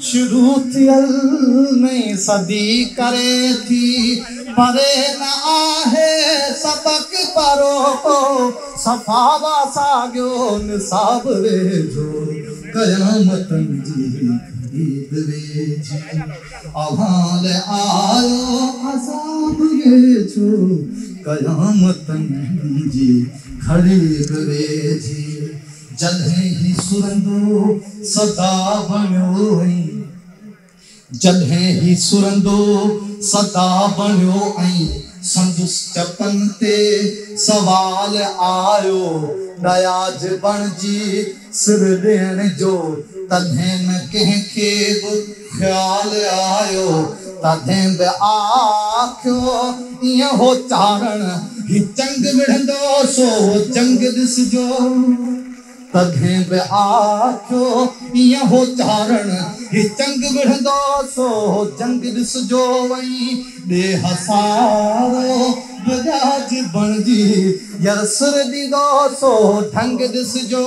شروع ٿيل نئين صدي ڪري ٿي پري نه آهي سبق پرو ڪو صفا وا ساڳيو نصاب ويجهو قيامتن جي گهڙي به ويجهي اوهان لئه آيو عذاب ويجهو قيامتن جي گهڙي به ويجهي جلهي هي سرندو سدا بڻيو ۽. جلهي هي سرندو سدا بڻيو ۽. سندس چپن تي سوال آيو. ڏياج بڻجي سر ڏيڻ جو. تلهين ڪنهن کي به. خيال آيو تڏهن به آکيو ايئن هو چاڙهڻ هي چنگ وڙهندو سو هو چنگ ڏسجو تڏهن به آکيو ايئن هو چاڙهڻ هي چنگ وڙهندو سو هو چنگ ڏسجو وئين ڏي هسارو به ڏاج بڻجي ير سر ڏيندو سو هو ڍنگ ڏسجو.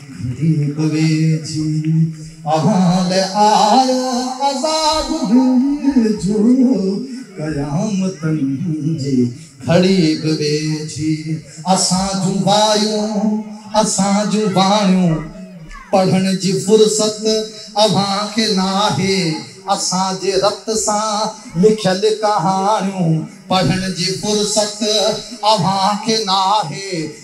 ڀي پوي جي احوال آيو عذاب به جو قيامتن جي گھڙي به ويجھي اسان جون بايون اسان جون باڻيون پڙھڻ جي فرصت اوھان کي ناھي اسان جي رت سان لکيل ڪهاڻيون پڙھڻ جي فرصت اوھان کي ناھي.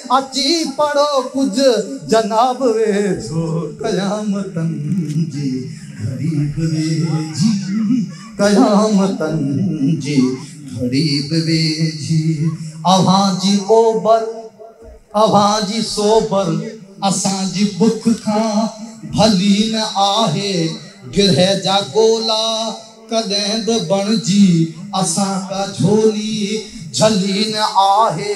اچي پڙهو ڪجھ جناب ويجھو قيامتن جي گھڙي به ويجھي قيامتن جي گھڙي به ويجھي اوهان جي اوبر اوهان جي سوبر اسان جي بک کان ڀلي نه آهي گرهه جا گولا ڪڏهن به بڻجي اسان ڪا جھولي جھلي نه آهي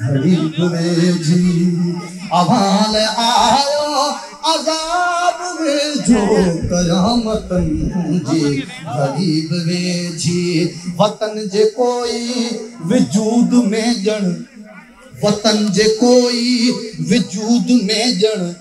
گهڙي گهڙي جي احوال آيو عذاب ويجهو قيامتن جي گهڙي به ويجهي وطن جي ڪوئي وجود ۾ ڄڻ وطن جي ڪوئي وجود ۾ ڄڻ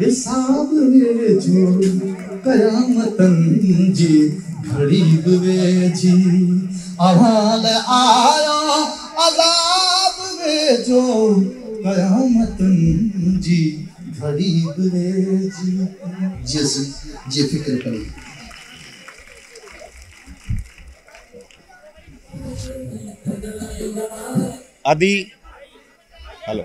حساب ويجهو، قيامتن جي گهڙي به ويجهي، اوهان لاء آيو عذاب ويجهو، قيامتن جي گهڙي به ويجهي. جيئن سي جي فڪر پئي. ادي هلو.